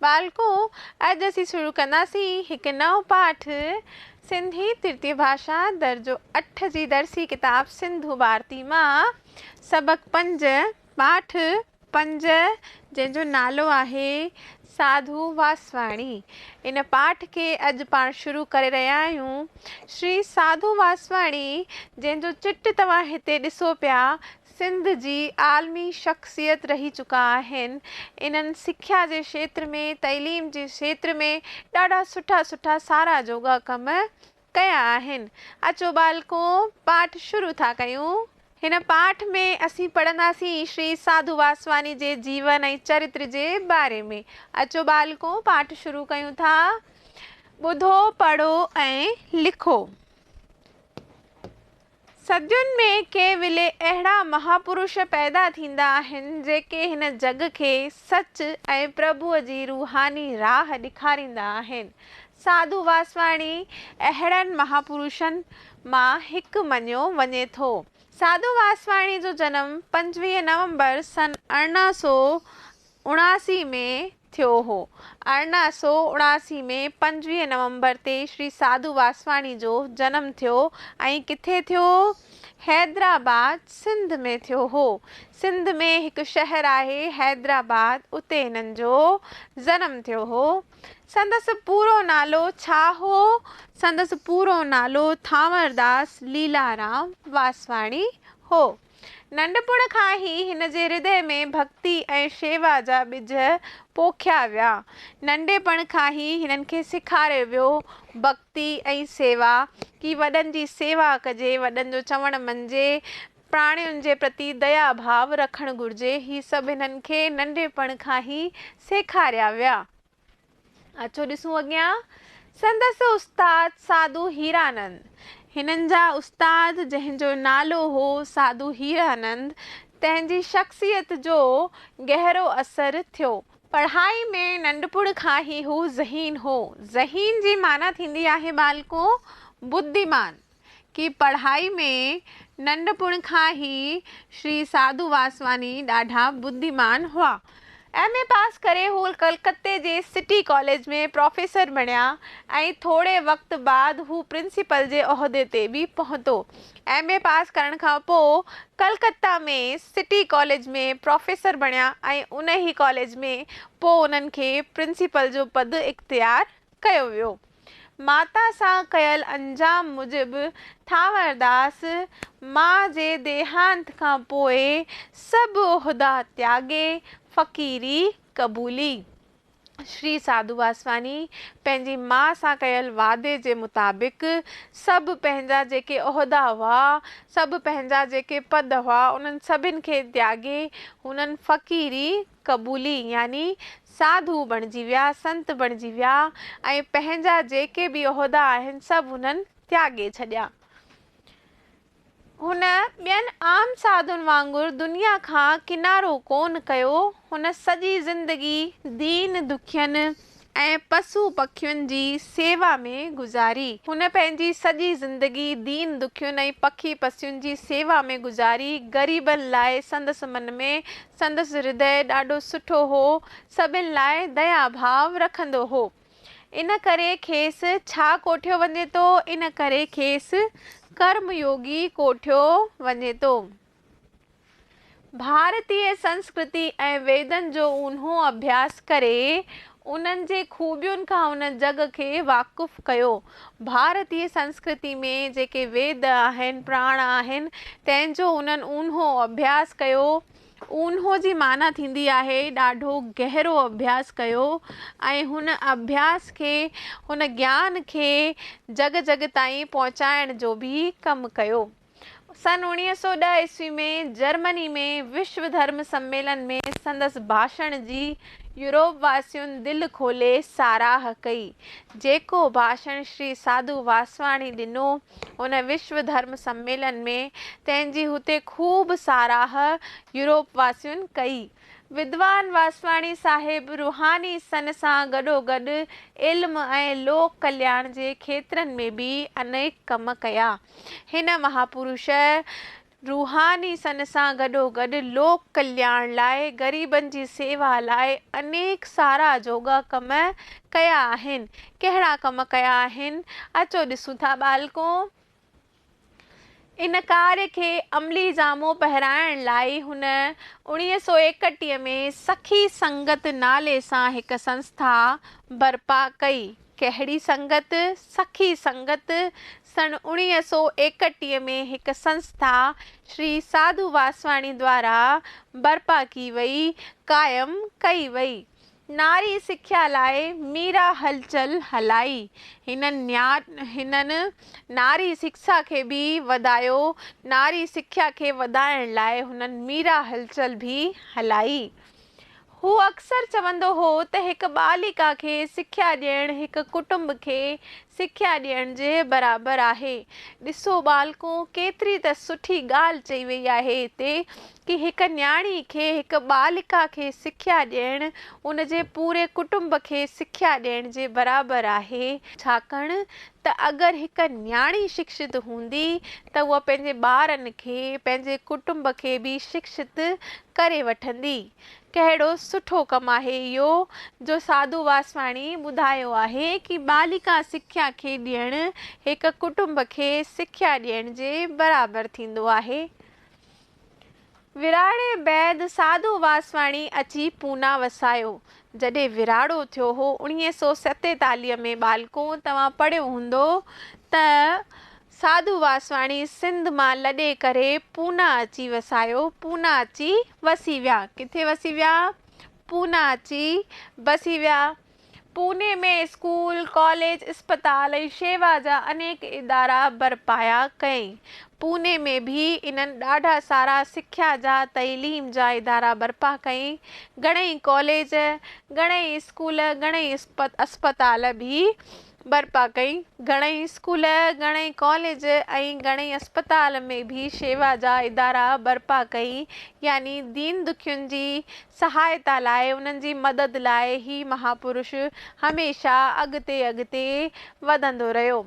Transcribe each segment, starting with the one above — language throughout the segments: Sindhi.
ٻالڪون، اڄ اسين شروع ڪنداسين هڪ نئون پاٺ، سنڌي ترتيب ڀاشا، درجو اٺ جي درسي ڪتاب سنڌو ڀارتي مان سبق پنج، پاٺ پنج، جنهن جو نالو آهي، ساڌو واسواڻي. ان پاٺ کي اڄ پاڻ شروع ڪري رهيا آهيون. شري ساڌو واسواڻي، جنهن جو چٽ توهان هتي ڏسو پيا، سنڌ جي عالمي شخصيت رهي چڪا آهن انهن سکيا جي شيتر ۾ تعليم جي شيتر ۾ ڏاڍا سٺا سٺا ساراهه جوڳا ڪم ڪيا آهن اچو ٻالڪو پاٺ شروع ٿا ڪيون هن پاٺ ۾ اسين پڙهنداسين شري ساڌو واسواني جي جيون ۽ چرتر جي باري ۾ اچو ٻالڪو پاٺ شروع ڪيون ٿا ٻڌو پڙهو ۽ لکو. صدين ۾ ڪي ولي اهڙا مهاپروش پيدا ٿيندا آهن، جيڪي هن جڳ کي سچ ۽ پرڀوء جي روحاني راهه ڏيکاريندا آهن. ساڌو واسواڻي اهڙن مهاپروشن مان هڪ مڃيو وڃي ٿو. ساڌو واسواڻي جو جنم پنجويهه نومبر سن ارڙهن سؤ اڻاسي ۾ ٿيو هو. ارڙهن سؤ اڻاسي ۾ پنجويهه نومبر تي شري ساڌو واسواڻي جو جنم ٿيو ۽ ڪٿي ٿيو هو؟ حيدرآباد، سنڌ ۾ ٿيو هو. سنڌ ۾ هڪ شهر آهي حيدرآباد اتي هنن جو جنم ٿيو هو. سندس پورو نالو ڇا هو؟ سندس پورو نالو ٿانورداس ليلارام واسواڻي هو. ننڍپڻ کان ئي هن جي هردي ۾ ڀڳتي ۽ شيوا جا ٻج پوکيا ويا. ننڍپڻ کان ئي هنن کي سيکاريو ويو ڀڳتي ۽ سيوا ڪي وڏن جي سيوا ڪجي، وڏن جو چوڻ مڃجي، پراڻين جي پرتي ديا ڀاو رکڻ گهرجي، هي سڀ هنن کي ننڍپڻ کان ئي سيکاريا ويا. اچو ڏسون اڳيان سندس استاد ساڌو هيرانند. هنن جا استاد جنهن جو نالو هو ساڌو هيرانند تنهن جي شخصيت جو گهرو اثر ٿيو. پڙهائي ۾ ننڍپڻ کان ئي هو ذهين هو. ذهين جي معنيٰ ٿيندي آهي ٻالڪو، بديمان. کي پڙهائي ۾ ننڍپڻ کان ئي شري ساڌو واسواني ڏاڍا ٻڌيمان هئا. ايم اي پاس ڪري هو ڪلڪتي جي سٽي ڪاليج ۾ پروفيسر بڻيا ۽ ٿوري وقت بعد هو پرنسپل جي عهدي تي به پهتو. ايم اي پاس ڪرڻ کان پوء ڪلڪته ۾ سٽي ڪاليج ۾ پروفيسر بڻيا ۽ انهي ڪاليج ۾ پوء انهن کي پرنسپل جو پد اختيار ڪيو ويو. ماتا سان ڪيل انجام موجب ٿانورداس ماء جي ديهانت کان پوء سڀ عهدا تياڳي فقيري قبولي. شري ساڌو واسواني پنهنجي ماء سان ڪيل وعدي جي مطابق سڀ پنهنجا جيڪي عهدا هئا، سڀ پنهنجا جيڪي پد هئا انهن سڀن کي تياڳي هنن فقيري قبولي يعني ساڌو بڻجي ويا، سنت بڻجي ويا ۽ پنهنجا جيڪي به عهدا آهن سڀ هنن تياڳي ڇڏيا. هن ٻين عام ساڌن وانگر دنيا کان ڪنارو ڪونه ڪيو، هن سڄي زندگي دين، دکين، ۽ پسو پکين جي سيوا ۾ گذاري. هن پنهنجي سڄي زندگي دين دکين ۽ پکي پسين جي سيوا ۾ گذاري. غريبن لاء سندس من ۾. سندس ھردئي ڏاڍو سٺو ھو. سڀن لاء ديا ڀاء رکندو ھو. ان ڪري کيس ڇا ڪوٺيو وڃي ٿو؟ ان ڪري کيس ڪرم يوگي ڪوٺيو وڃي ٿو. ڀارتي سنسڪرتي ۽ ويدن جو اونهو اڀياس ڪري، انهن جي خوبين کان هن جڳ کي واقف ڪيو. ڀارتي سنسڪرتي ۾ جيڪي ويد آهن، پراڻ آهن، تنهن جو انهن اونهو اڀياس ڪيو. اونهو جي معنيٰ ٿيندي آهي ڏاڍو گهرو اڀياس ڪيو ۽ هن اڀياس کي، هن گيان کي جڳ جڳ تائين پهچائڻ جو به ڪم ڪيو. سن اوڻيهه سؤ ڏهه عيسوي ۾ جرمني ۾ وشو ڌرم سميلن ۾ سندس ڀاشڻ جي يورپ واسين دل کولي ساراهه ڪئي. جيڪو ڀاشڻ شري ساڌو واسواڻي ڏنو ان وشو ڌرم سميلن ۾ تنهن جي هتي خوب ساراهه يورپ واسين ڪئي. ودوان واسواڻي صاحب روحاني سن سان گڏوگڏ علم ۽ لوڪ ڪلياڻ جي کيترن ۾ به انيڪ ڪم ڪيا. هن مهاپروش روحاني سن سان گڏوگڏ لوڪ ڪلياڻ لاء، غريبن جي سيوا لاء انيڪ سارا جوڳا ڪم ڪيا آهن. ڪهڙا ڪم ڪيا آهن؟ اچو ڏسون ٿا ٻالڪو! ان ڪارج کي عملي جامو پهرائڻ لاء هن اوڻيهه سؤ ايڪٽيهه ۾ سخي سنگت نالي سان هڪ سنسٿا برپا ڪئي. ڪهڙي سنگت؟ سخي سنگت سن اوڻيهه سؤ ايڪٽيهه ۾ هڪ سنسٿا شري ساڌو واسواڻي دوارا برپا ڪي وئي، قائم ڪئي وئي. ناري سکيا لاء ميرا هلچل هلائي. هنن نياٽ هنن ناري سکسا کي به وڌايو. ناري سکيا کي وڌائڻ لاء هنن ميرا هلچل به هلائي. هو اڪثر چوندو هو ته هڪ ٻاليڪا کي سکيا ڏيڻ هڪ ڪٽنب کي سکيا ڏيڻ جي برابر آهي. ڏسو ٻالڪو، ڪيتري ته سٺي ڳالهه چئي وئي آهي هتي ڪي هڪ نياڻي کي، هڪ ٻاليڪا کي سکيا ڏيڻ ان جي پوري ڪٽنب کي سکيا ڏيڻ جي برابر آهي، ڇاڪاڻ ته اگر هڪ نياڻي شڪشت هوندي ته هوء پنهنجي ٻارن کي پنهنجي ڪٽنب کي به شڪشت ڪري وٺندي. ڪهڙو سٺو ڪم آهي اهو جو ساڌو واسواڻي ٻڌايو آهي ڪي ٻاليڪا سکيا کي ڏيڻ هڪ ڪٽنب کي سکيا ڏيڻ جي برابر ٿيندو آهي. وراڻي بعد ساڌو واسواڻي اچي پونا وسايو. جڏهن وراڻو ٿيو هو اڻيهه سؤ ستيتاليهه ۾ ٻالڪو توهان پڙهيو هوندو ته ساڌو واسواڻي سنڌ مان لڏي ڪري پونا اچي وسايو پونا اچي وسي ويا ڪٿي وسي ويا پونا اچي بسي ويا. پوني ۾ اسڪول، ڪاليج، اسپتال ۽ شيوا جا انيڪ ادارا برپايا ڪيائين. پوني ۾ به انهن ڏاڍا سارا سکيا جا، تعليم جا ادارا برپا ڪيائين. گهڻئي ڪاليج، گهڻئي اسڪول، گهڻئي اسپتال به برپا ڪئي. گهڻئي اسڪول، گهڻئي ڪاليج ۽ گهڻئي اسپتال ۾ به شيوا جا ادارا برپا ڪئي. يعني دين دکين جي سهائتا لاء، انهن جي مدد لاء هي مهاپرش هميشه اڳتي اڳتي وڌندو رهيو.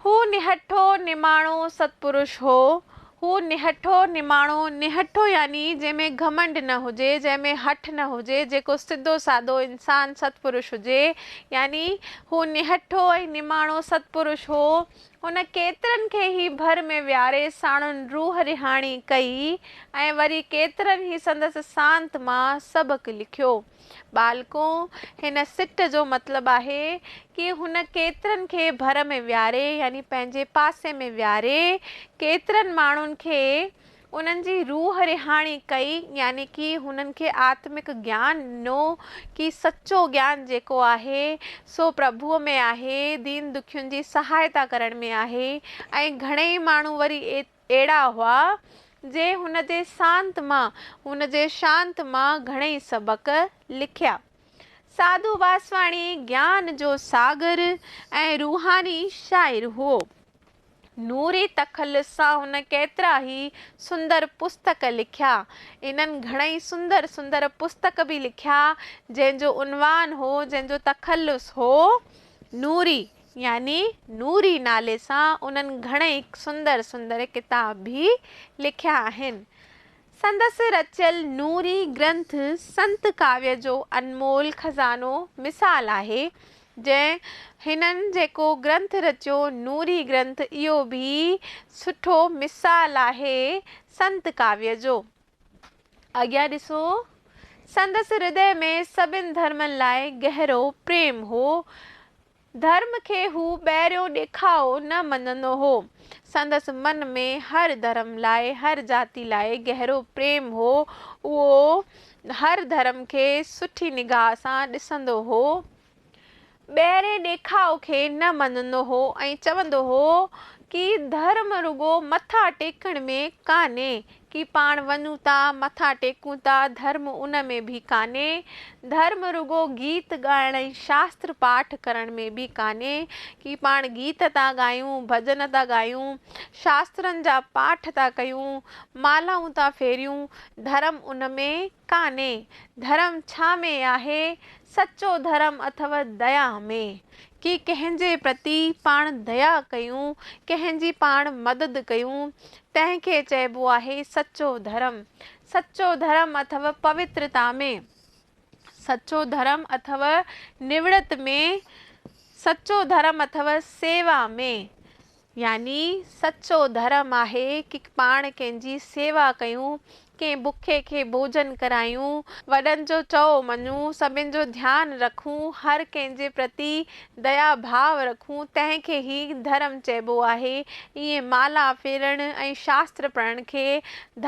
هو نهٺو نماڻو ستپرش هو. هو نهٺو نماڻو، نهٺو يعني جنهن ۾ گهمنڊ نه هجي، جنهن ۾ هٺ نه هجي، جيڪو سڌو سادو انسان ستپرش هجي، يعني هو نهٺو ۽ نماڻو ستپرش هو. هن ڪيترن کي هي ڀر ۾ ويهاري ساڻن روح رهاڻي ڪئي ۽ وري ڪيترن هي سندس سانت مان سبق لکيو. ٻالڪو، هن سٽ جو مطلب آهي ڪي هن ڪيترن کي ڀر ۾ ويهاري يعني پنهنجي پاسي ۾ ويهاري ڪيترن ماڻهن کي انهن جي روح رهاڻي ڪئي يعني ڪي هنن کي آتمڪ گيان ڏنو ڪي سچو گيان جيڪو آهي سو پرڀوء ۾ آهي دين دکين جي سهائتا ڪرڻ ۾ آهي ۽ گهڻيئي ماڻهو وري ايت اهڙا هئا، جنهن هن جي سانت مان، هن جي شانت مان گهڻئي سبق لکيا. ساڌو واسواڻي گيان جو ساگر ۽ روحاني شاعر هئو. نوري تخلص سان هن ڪيترا ئي سندر پستڪ لکيا. انهن گهڻئي سندر سندر پستڪ به لکيا، جنهن جو عنوان هو، جنهن جو تخلص هو، نوري. يعني نوري نالي سان انهن گهڻئي سندر سندر ڪتاب به لکيا آهن. سندس رچيل نوري گرنٿ سنت ڪاويه جو انمول خزانو مثال آهي، جنهن هنن جيڪو گرنٿ رچيو نوري گرنٿ اهو به سٺو مثال آهي سنت ڪاويه جو. اڳيان ڏسو سندس هردئه ۾ سڀن ڌرمن لاء گهرو پريم هو، ڌرم کي هو ٻهريون ڏيکاء نه مڃندو هو. سندس من ۾ هر ڌرم لاء، هر جاتي لاء گهرو پريم هو. اهو هر ڌرم کي سٺي نگاهه سان ڏسندو هو. ٻهرين ڏيکاء کي نه مڃندو هو ۽ چوندو هو ڪي ڌرم رڳو مٿا ٽيڪڻ ۾ ڪانهي، ڪي پاڻ وڃون ٿا، مٿا ٽيڪون ٿا، ڌرم ان ۾ به ڪانهي. ڌرم رڳو گيت ڳائڻ ۽ شاستر پاٺ ڪرڻ ۾ به ڪانهي. ڪي پاڻ گيت ٿا ڳايون، ڀڄن ٿا ڳايون، شاسترن جا پاٺ ٿا ڪيون، مالائون ٿا ڦيريون، ڌرم ان ۾ ڪانهي ڌرم ڇا ۾ آهي، سچو ڌرم اٿو ديا ۾، ڪي ڪنهن جي پرتي پاڻ ديا ڪيون، ڪنهن جي پاڻ مدد ڪيون، تنهن کي چئبو آهي سچو ڌرم، سچو ڌرم اٿو پوترتا ۾، سچو ڌرم اٿو نوڙت ۾، سچو ڌرم اٿو سيوا ۾، يعني سچو ڌرم آهي ڪي پاڻ ڪنهن جي سيوا ڪيون، ڪنهن بکي کي ڀوڄن ڪرايون، وڏن جو چئو مڃون، سڀن جو ڌيان رکون، هر ڪنهن جي پرتي ديا ڀاء رکون، تنهن کي ئي ڌرم چئبو آهي. ائين مالا ڦيرڻ ۽ شاستر پڙهڻ کي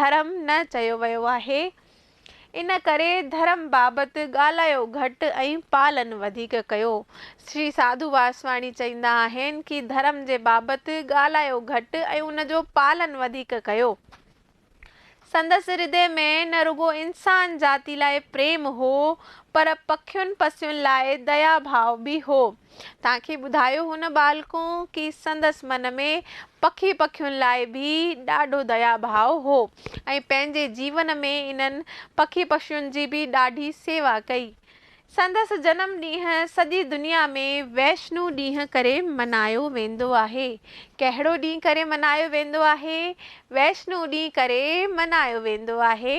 ڌرم نه چيو ويو آهي. ان ڪري ڌرم بابت ڳالهايو گهٽ ۽ پالن وڌيڪ ڪيو. شري ساڌو واسواڻي چئيندا آهن ڪي ڌرم جي بابت ڳالهايو گهٽ ۽ ان جو پالن وڌيڪ ڪيو. سندس هردي ۾ نه رڳو انسان جاتي لاء پريم هو پر پکين پسين لاء ديا ڀاء به هو. تان کي ٻڌايو هن ٻالڪون ڪي سندس من ۾ پکي پکين لاء به ڏاڍو ديا ڀاء هو ۽ پنهنجي جيون ۾ انهن پکي پشين جي به ڏاڍي سيوا ڪئي. سندس جنم ڏينهن سڄي دنيا ۾ ويشنو ڏينهن ڪري منايو ويندو آهي. ڪهڙو ڏينهن ڪري منايو ويندو آهي؟ ويشنو ڏينهن ڪري منايو ويندو آهي.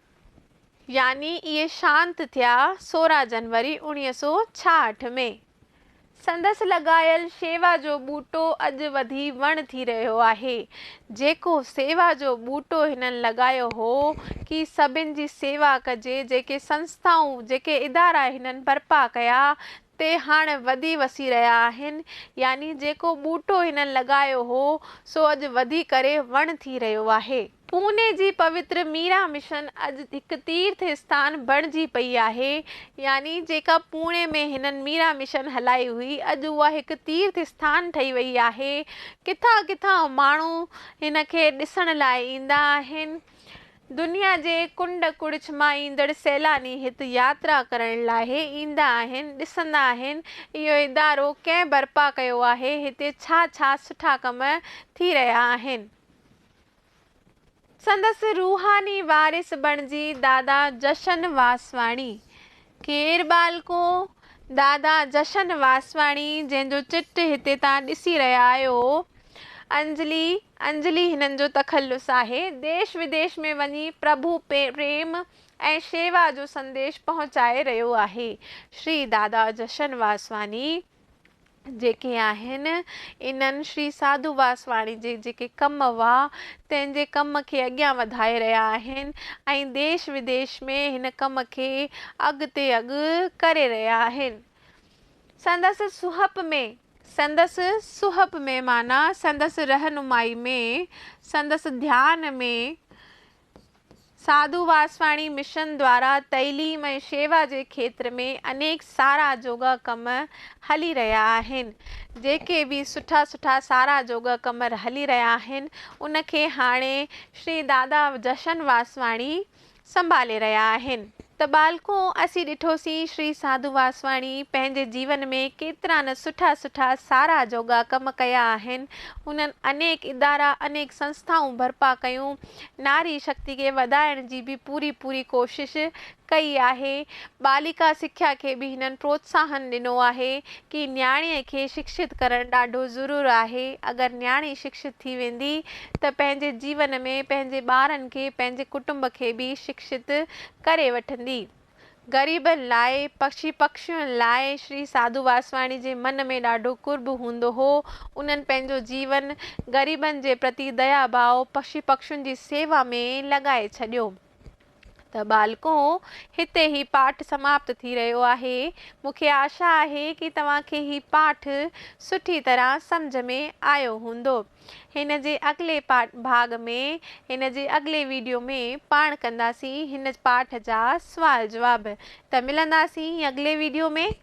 يعني اهي شانت ٿيا سورهن جنوري اوڻيهه سؤ ڇاهٺ ۾. سندس لڳايل شيوا جو ٻوٽو اڄ وڌي وڻ ٿي رهيو آهي. جيڪو سيوا جو ٻوٽو هنن لڳايو هو ڪي سڀن جي سيوا ڪجي جيڪي سنسٿائون جيڪي ادارا هنن برپا ڪيا تي هاڻ وڌي وسي رهيا آهن يعني جيڪو ٻوٽو هنن لڳايو هو سو اڄ وڌي ڪري وڻ ٿي رهيو آهي. پوني جي پوتر ميرا مشن اڄ هڪ تيرٿ اسٿان بڻجي پئي آهي يعني جيڪا پوني ۾ هنن ميرا مشن هلائي هئي اڄ اها هڪ تيرٿ اسٿان ٺهي وئي آهي ڪٿان ڪٿان ماڻهو هن کي ڏسڻ لاء ايندا آهن دنيا جي ڪنڊ ڪڙڇ مان ايندڙ سيلاني هت ياترا ڪرڻ لاء ايندا آهن ڏسندا آهن اهو ادارو ڪنهن برپا ڪيو آهي هتي ڇا ڇا سٺا ڪم ٿي رهيا آهن. سندس روحاني وارث بڻجي دادا جشن واسواڻي، ڪير ٻالڪو دادا جشن واسواڻي جنهن جو چٽ هتي تان ڏسي رهيا آهيو، انجلي انجلي هنن جو تخلص آهي، ديش وديش ۾ وڃي پرڀو پريم ۽ شيوا جو سنديش پهچائي رهيو آهي، شري دادا جشن واسواڻي. جيڪي آهن، انهن شري ساڌو واسواڻي جي جيڪي ڪم هئا، تنهن جي ڪم کي اڳيان وڌائي رهيا آهن ۽ ديش وديش ۾ هن ڪم کي اڳتي اڳ ڪري رهيا آهن. سندس سهپ ۾. سندس سهپ ۾، معنيٰ سندس رهنمائي ۾، سندس ڌيان ۾، ساڌو واسواڻي مشن دوارا تعليم ۽ شيوا جي کيتر ۾ انيڪ سارا جوڳا ڪم هلي رهيا آهن. جيڪي به سٺا سٺا سارا جوڳا ڪم هلي رهيا آهن ان کي هاڻي شري دادا جشن واسواڻي سنڀالي رهيا آهن. ته ٻالڪو اسين ڏٺوسين شري ساڌو واسواڻي پنهنجي جيون ۾ ڪيترا نه سٺا سٺا ساراهه جوڳا ڪم ڪيا آهن، انهن انيڪ ادارا انيڪ سنسٿائون برپا ڪيون، ناري شڪتي کي وڌائڻ جي به پوري پوري ڪوشش ڪئي آهي، ٻالڪا سکيا کي به هنن پروتساهن ڏنو آهي ڪي نياڻي کي شڪشت ڪرڻ ڏاڍو ضرور آهي، اگر نياڻي شڪشت ٿي ويندي ته پنهنجي جيون ۾ پنهنجي ٻارن کي پنهنجي ڪٽنب کي به شڪشت ڪري وٺندي. غريبن لاء، پکي پکشين لاء شري ساڌو واسواڻي جي من ۾ ڏاڍو قرب هوندو هو. انهن پنهنجو جيون غريبن جي پرتي ديا ڀاء، پکي پکشين جي سيوا ۾ لڳائي ڇڏيو. ته ٻالڪو، هتي هي پاٺ سماپت ٿي رهيو آهي. مون کي آشا آهي ڪي توهان کي هي پاٺ سٺي طرح سمجهه ۾ آيو هوندو. هن جي اڳلي پارٽ ڀاڳ ۾ هن جي اڳلي ويڊيو ۾ پاڻ ڪنداسين هن پارٽ جا سوال جواب ته ملنداسين اڳلي ويڊيو ۾.